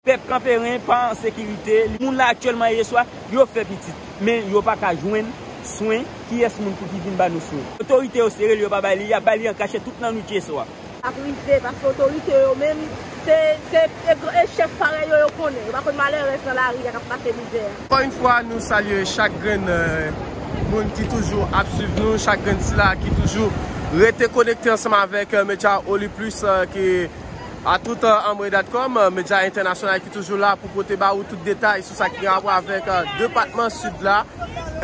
Pèp Kanperen pa an sekirite, li moun la aktyèlman ye swa yo fè pitit, men yo pa ka jwenn swen, kiyès moun pou ki vin ba nou swen? Otorite yo sere li yo pa bay li, y ap bay li an kachèt tout nan nwit yeswa. Sa ap rive paske otorite yo menm se se e chèf parèy yo yo konnen, yo pa konn malèrèz nan lari a k ap pase mizè a. Ankò yn fwa nou salye chak grenn moun ki toujou ap swiv nou, chak grenn sila ki toujou rete konekte ansanm avèk medyawoliplis ki. A tout anmwe datcom, medya entènasyonal ki toujou la pou pote ba ou tout detay sou sa ki gen rapò avèk depatman Sid la.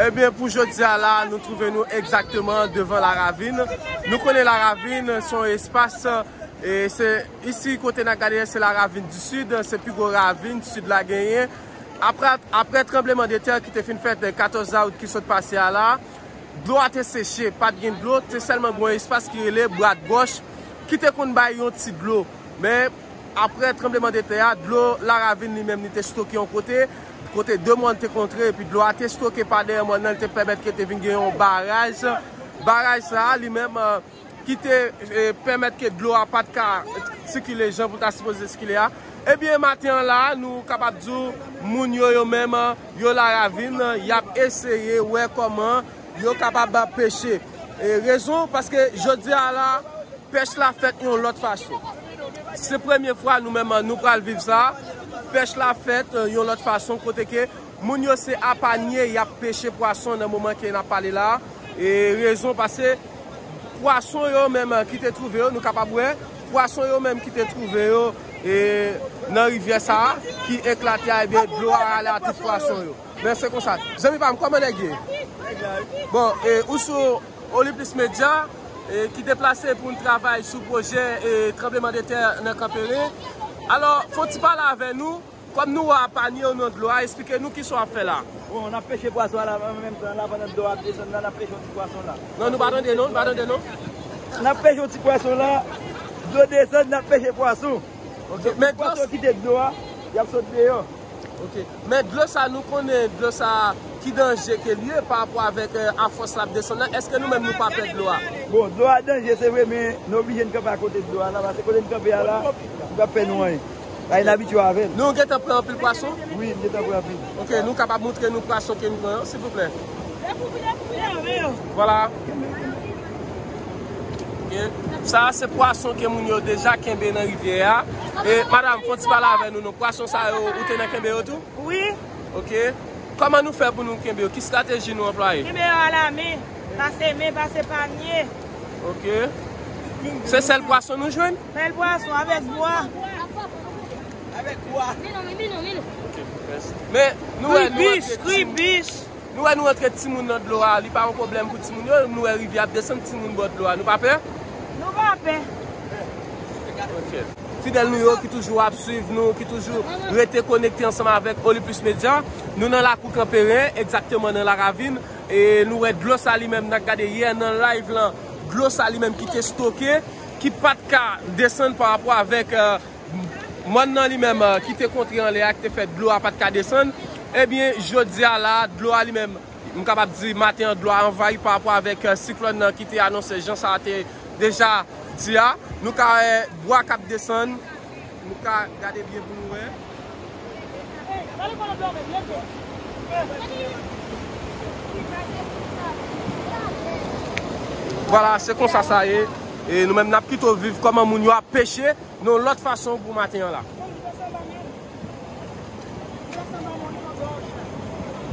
Ebyen pou jodi a la, nou twouve nou egzakteman devan La Ravine. Nou konnen La Ravine se yon espas, e se isi kote n ap gade a se La Ravine du Sud, se pi gwo ravine Sid la genyen. Aprè tranbleman de tè ki te fin fèt 14 dawout ki sot pase a la, Dlo a te seche, pa t gen dlo, te sèlman gen yon espas ki rele Brat Gòch ki te konn bay yon ti dlo. Men, apre tranbleman de tè a, dlo laravin li menm li te stoke yon kote, kote de mòn te kontre epi dlo a te stoke pa dèyè mòn nan, li te pèmèt ke te vin gen yon baraj. Baraj sa a li menm. ki te pèmèt ke dlo a pat ka sikile jan pou ta sipoze sikile a, ebyen maten an la a nou kapab di w moun yo yo menm yo la ravin y ap eseye wè kòman yo kapab peche. Rezon paske jodi a la pèch la fèt yon lòt fason. Se premye fwa nou menm nou pral viv sa, pèch la fèt yon lòt fason kote ke. Moun yo se a panye yap peche pwason nan moman ke nap pale la, e rezon pase pwason yo menm ki te twouve yo, nou kapab wè, pwason yo menm ki te twouve yo e nan rivyè sa a ki eklate a ebyen dlo a rale a tout pwason yo. Men se konsa. Zanmi pam kòman nèg ye? Bon e ou sou Olympus Media e ki deplase pou n travay sou pwojè e tranbleman de tè nan Kanperen. Alò fon ti pale avè nou. Kòm nou wè a pa nye w nan dlo a, esplike nou kisa w ap fè la a. Bon, n ap peche pwason an an menm tan la pandan dlo a ap desann la n ap peche yon ti pwason la. Non nou pa tande non, nou pa tande non. N ap peche yon ti pwason la, dlo desann n ap peche pwason. Ok, men dlo. Pwason kite dlo a, y ap sot deyò. Ok, men dlo sa nou konnen dlo sa ki danje ke l ye pa rapò avèk a fòs l ap desann la, èske nou menm nou pa pè dlo a? Bon, dlo a danje se vre men nou oblije n kanpe akote dlo a la pase kote n kanpe a la li p ap fè nou anyen. Bagay n abitye avè l. Nou gentan pran anpil pwason? Wi, m gentan pran anpil. Ok, nou kapab moutre nou pwason ke n pran yo, silvouplè? Vwala. Ok. Sa a se pwason ke moun yo deja kenbe nan rivyè a. E, madam, fon ti pale avè nou non. Pwason sa yo, ou te nan kenbe yo tou? Wi. Ok. Kòman nou fè pou nou kenbe yo? Ki strateji nou anplwaye? Kenbe yo alamen. Pa seme, pa se panye. Ok. Se sel pwason nou jwenn? Sel pwason, avek bwa. Avek bwa. Menou, menou, menou. Ok, pwopes. Men, nou wè nou antre timoun. Kwi bich, kwi bich. Nou wè nou antre timoun nan dlo a, li pa yon pwoblem pou timoun yo. Nou wè rivye ap desann timoun bò dlo a. Nou pa pè? Nou pa pè. Ok. Fidel nou yo ki toujou ap swiv nou, ki toujou rete konekte ansanm avek Oliplis Media. Nou nan lakou Kanperen, egzakteman nan Laravin. E nou wè dlo sa li menm nan gade yè nan live lan, dlo sa li menm ki te stoke, ki pat ka desann pa rapò avèk mòn nan li menm ki te kontre anlè a ki te fè dlo a pat ka desann. Ebyen jodi a la dlo a li menm, m kapab di maten an dlo a anvayi pa rapò avèk siklòn nan ki te anonse jan sa te deja di a. Nou ka wè bwa k ap desann. Nou ka gade byen pou nou wè. Vwala se konsa sa ye. E nou menm nap pito viv koman moun yo ap peche. Non lot fason pou maten an la.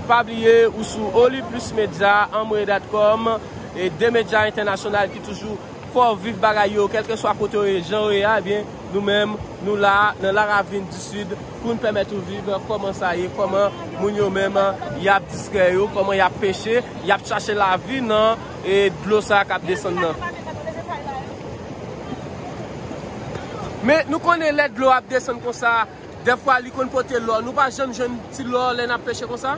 Pa bliye ou sou Oliplismedia, anmwedat.com e 2 medya entènasyonal ki toujou. Fò viv bagay yo kèlkeswa kote yo ye, jan yo ye a, ebyen nou menm nou la a nan La Ravine du Sud pou n pèmèt ou viv kòman sa ye, kòman moun yo menm y ap distrè yo, kòman y ap peche, y ap chache lavi nan dlo sa a k ap desann nan. Men nou konnen lè dlo ap desann konsa, dèfwa li konn pote lò, nou pa janm jwenn ti lò lè n ap peche konsa?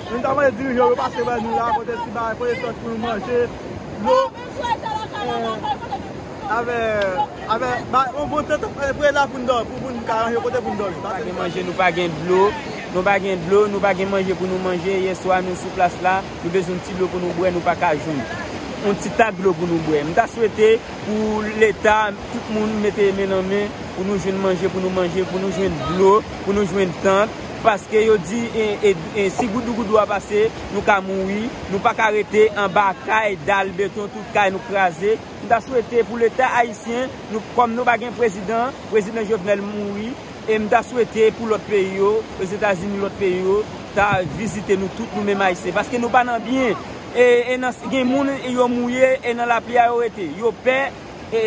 Nou ta mande dirijan yo pase wè nou la pote ti bagay pote sòs pou nou manje, dlo, avèk yon bon tenten pou nou la pou nou ka ranje yon kote pou nou dòmi. Nou pa gen manje, nou pa gen dlo, nou pa gen dlo, nou pa gen manje pou nou manje, yè swa nou sou plas la, nou bezwen yon ti dlo pou nou bwè nou pa ka jwenn yon ti tak dlo pou nou bwè. M ta swete pou leta, tout moun mete men nan men pou nou jwenn manje pou nou manje, pou nou jwenn dlo, pou nou jwenn tant. Paske yo di si goudou goudou a pase, nou ka mouri, nou pa ka rete anba kay, dal, beton, tout kay nou kraze. M ta swete pou leta ayisyen, kòm nou pa gen prezidan, prezidan Jovenel mouri, e m ta swete pou lòt peyi yo, Ozetazini, lòt peyi yo, ta vizite nou tout nou menm ayisyen. Paske nou pa nan byen. E nan gen moun yo mouye e nan lapli a yo rete. Yo pè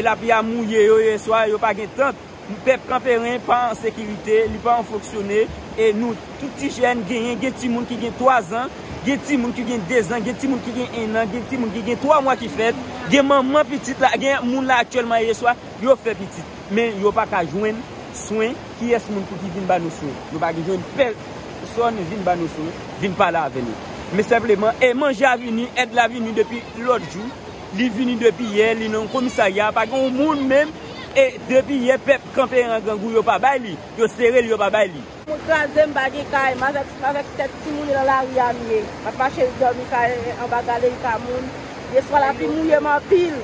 lapli a mouye yo yeswa, yo pa gen tant. Pèp Kanperen pa an sekirite, li pa an fonksyone e nou tout ti jèn genyen, gen timoun ki gen 3 zan, gen timoun ki gen 2 zan, gen timoun ki gen 1 nan, gen timoun ki gen 3 mwa ki fèt, gen manman pitit la, gen moun la aktyèlman yeswa yo fè pitit. Men yo pa ka jwenn swen, kiyès moun pou ki vin ba nou swen? Nou pa ki jwenn pèsòn vin ba nou swen, vin pale avè nou. Men senpleman, e manje a vini, èd la vini depi lòt jou, li vini depi yè, li nan yon komisarya, pa gen yon moun menm E depi yè pèp kanpe ran grangou yo pa bay li, yo sere li yo pa bay li. Moun kraze m pa gen kay. M avèk m avèk tèt timoun e nan lari a m ye. M ap mache dòmi kay anba galri ka moun. Deswa lapli mouye m anpil.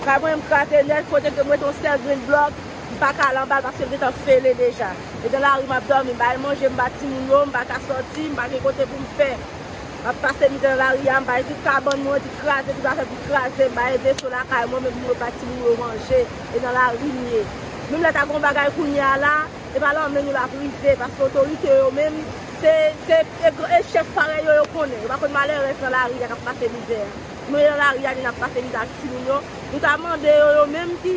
Kay mwen m kraze nèt kote ke m wete yon sèl grenn blòk m pa ka al anba l paske l gentan fele deja. E nan lari m ap dòmi. M pa al manje m ba timoun yo, m pa ka sòti, m pa gen kote pou m fè. Map pase li dan lari a, m bay tout kabann mwen, tout kraze ki pa fè pou kraze, m bay veso lakay mwen, men pou yo bat timoun yo manje, e nan lari m ye. Menm lè ta gon bagay kounye a la, e pa lan men nou lap rive, paske otorite yo menm, se, se, e gran, e chèf parèy yo, yo konnen, yo pa konn malèrèz nan lari a kap pase mizè a. Nou ye nan lari a ni nap pase mizè ak timoun yo, nou ta mande yo, yo menm ki.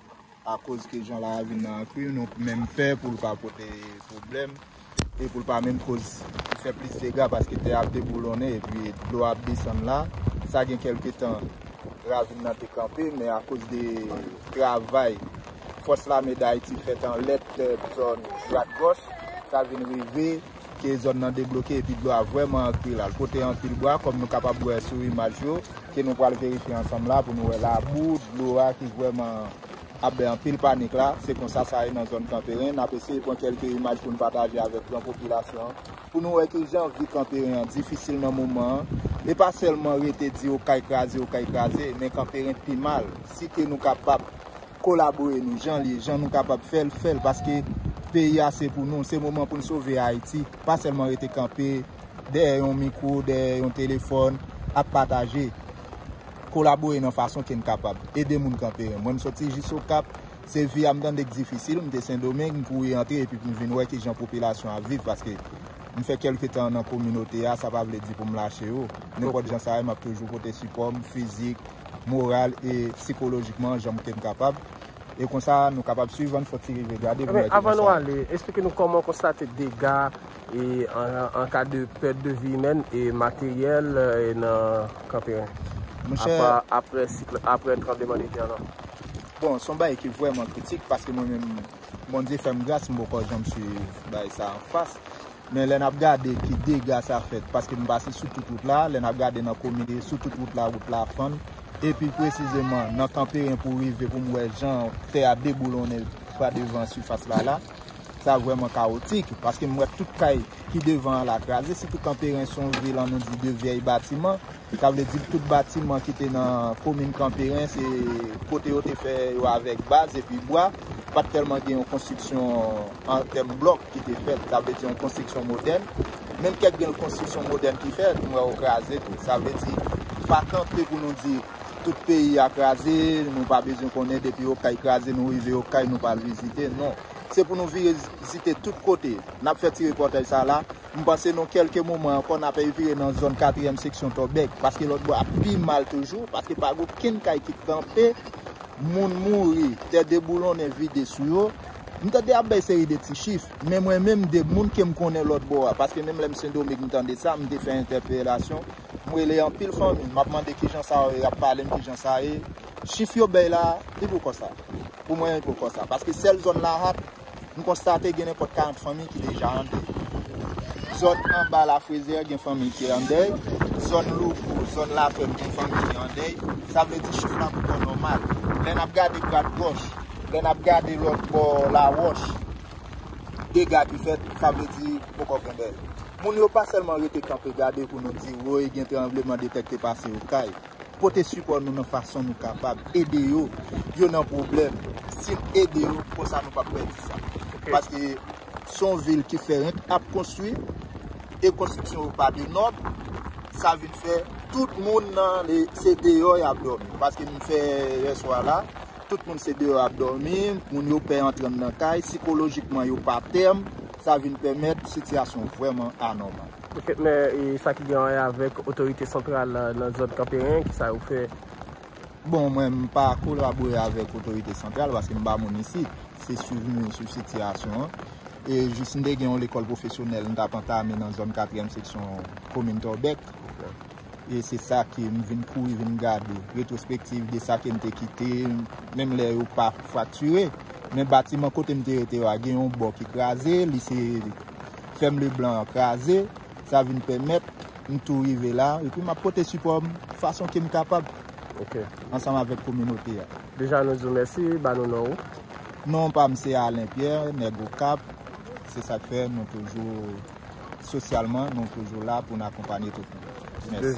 akoz ke jan la vin nan ankri nou menm pè pou l pa pote pwoblèm e pou l pa menm koz fè plis dega paske tè a ap deboulonnen epi dlo a ap desann la sa gen kèlke tan ravin nan te kanpe men akoz de travay fòs lame dayiti fèt an lèt zòn dwat gòch sa vin rive. ke zòn nan debloke epi dlo a vrèman antre la, l pote anpil bwa kòm nou kapab wè sou imaj yo ke nou pral verifye ansanm la pou nou wè labou dlo a ki vrèman ap bay anpil panik la, se konsa sa ye nan zòn Kanperen, n ap eseye pran kèlke imaj pou n pataje avèk gran popilasyon an pou nou wè kijan vi Kanperen an difisil nan moman an, e pa sèlman rete di Okay kraze, Okay kraze, men Kanperen pi mal, si ke nou kapab. Kolabore nou jan l ye, jan nou kapab fè l, fè l paske peyi a se pou nou, se moman pou n sove Ayiti, pa sèlman rete kanpe dèyè yon mikwo, dèyè yon telefòn ap pataje. Kolabore nan fason ke n kapab, ede moun kanperen. Mwen m soti jis Okap, se vi a m tande k difisil, m te Sendomeng, m kouri antre epi m vin wè kijan popilasyon ap viv paske m fè kèlke tan nan kominote a, sa pa vle di pou m lache yo, nenpòt jan sa ye m ap toujou pote sipò m, fizik. moral e psikolojikman jan ke m kapab e konsa nou kapab swiv an fòk ti rive gade pou nou wè ki jan sa ye. Avan nou ale, esplike nou kòman w konstate dega e an ka de pèt de vi imèn e materyèl nan Kanperen aprè tranbleman de tè an lan. Bon, s on bagay ki vrèman kritik paske mwen menm Bondye fè m gras m poko janm swiv bagay sa an fas Men lè nap gade ki dega sa fèt paske nou pase sou tout wout la, lè nap gade nan komin e sou tout wout la, wout la fann e pi presizeman nan Kanperen pou rive pou m wè jan tè a deboulonnen pa devan sifas la la, sa vrèman kawotik paske m wè tout kay ki devan an la kraze sitou Kanperen son vil an nou di de vyèy batiman. Sa vle di tout batiman ki te nan komin Kanperen se kote yo te fè yo avèk baz epi bwa, pa t tèlman gen yon konstriksyon an tèm blòk ki te fèt, sa vle di yon konstriksyon modèn. Menm kèk gen konstriksyon modèn ki fèt, m wè yo kraze tou. Sa vle di, pa kanpe pou nou di tout peyi a kraze, nou pa bezwen konnen depi Okay kraze nou rive Okay nou pa al vizite, non. Se pou nou vire vizite tout kote. N ap fè ti repòtaj sa la M panse nan kelke moman ankò n ape vire nan zòn katriyèm seksyon Tòbèk, paske lòt bò ap pi mal toujou, paske pa gen okenn kay ki kanpe, moun mouri, tè deboulonnen vide sou yo. M tande ap bay seri de ti chif, men mwen menm de moun ke m konnen lòt bò a, paske menm lè m Sendomeng m tande sa, m te fè entèpelasyon, m rele anpil fanmi, m ap mande kijan sa ye, y ap pale m kijan sa ye, chif yo bay la, li poko sa. Pou mwen li poko sa, paske sèl zòn Lahat, Nou konstate gen nenpòt 40 fanmi ki deja an dèy. Zòn anba Lafrezè gen fanmi ki an dèy. Zòn Louvro, zòn Lafèm gen fanmi ki an dèy. Sa vle di chif la poko nòmal. Lè n ap gade Grad Gòch, lè n ap gade lòt bò Lawòch, dega ki fèt, sa vle di poko gen dèy. Moun yo pa sèlman rete kanpe gade pou nou di woy gen tranbleman de tè k te pase Okay. Pote sipò nou nan fason nou kapab ede yo, yo nan pwoblèm sin ede yo konsa nou pap pèdi sa paske son vil ki fèrenk ap konstwi e konstriksyon yo pa de nòm sa vin fè tout moun nan se deyò yap dòmi paske m fè yè swa la tout moun se deyò yap dòmi moun yo pè antre nan kay sikolojikman yo pa tèm sa vin pèmèt sitiyasyon vrèman anòmal. Ketnè e sa ki gen anrè avèk otorite santral nan zòn Kanperen, kisa yo fè? Bon mwen m pa kolabore avèk otorite santral paske m pa moun isit, se swiv nou sou sitiyasyon an. E jis m te gen yon lekòl pwofesyonèl m t ap antame nan zòn katriyèm seksyon komin Tòbèk. E se sa ke m vin kouri vin gade retwospektiv de sa ke m te kite menm lè yo pa fraktire. Men batiman kote m te rete yo a gen yon bò ki kraze, li se Fèm Leblanc an kraze, sa vin pèmèt m tou rive la, epi m ap pote sipò m fason ke m kapab ansanm avèk kominote a. Deja nou di w mèsi, ba nou non ou. Non pa m se Alain Pierre, nèg Okap, se sa k fè nou toujou sosyalman nou toujou la pou n akonpanye tout moun. Mèsi.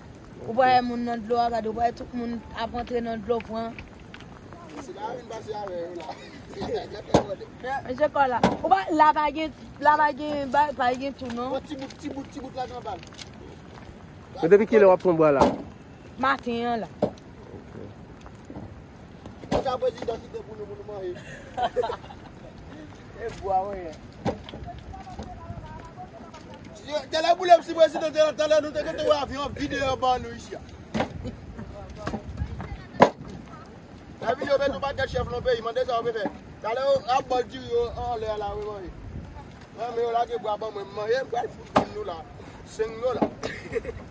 Ou pale moun nan dlo a gade ou pale tout moun ap antre nan dlo pran. Mesi la vin pase ave yo la. Mesi pa la. Ou pa la pa gen la pa gen ba pa gen tou non. Ti bout ti bout ti bout la gen bal. Depi kile wap pran bwa la? Maten an la. Kaka prezidan kite pou nou pou nou manje. E bwa mwen ye. Tele boule m si prezidan te lan tele nou te kote wè avyon ap vide an ban nou isi a. La vi yo met ou pa ket chef lon peyi mande sa ou pe fe. Tale ou ap bol diri yo an le ala ou manje. Mwen me ou la ke bwa ban mwen manje m pral fout ban nou la. Seng nou la.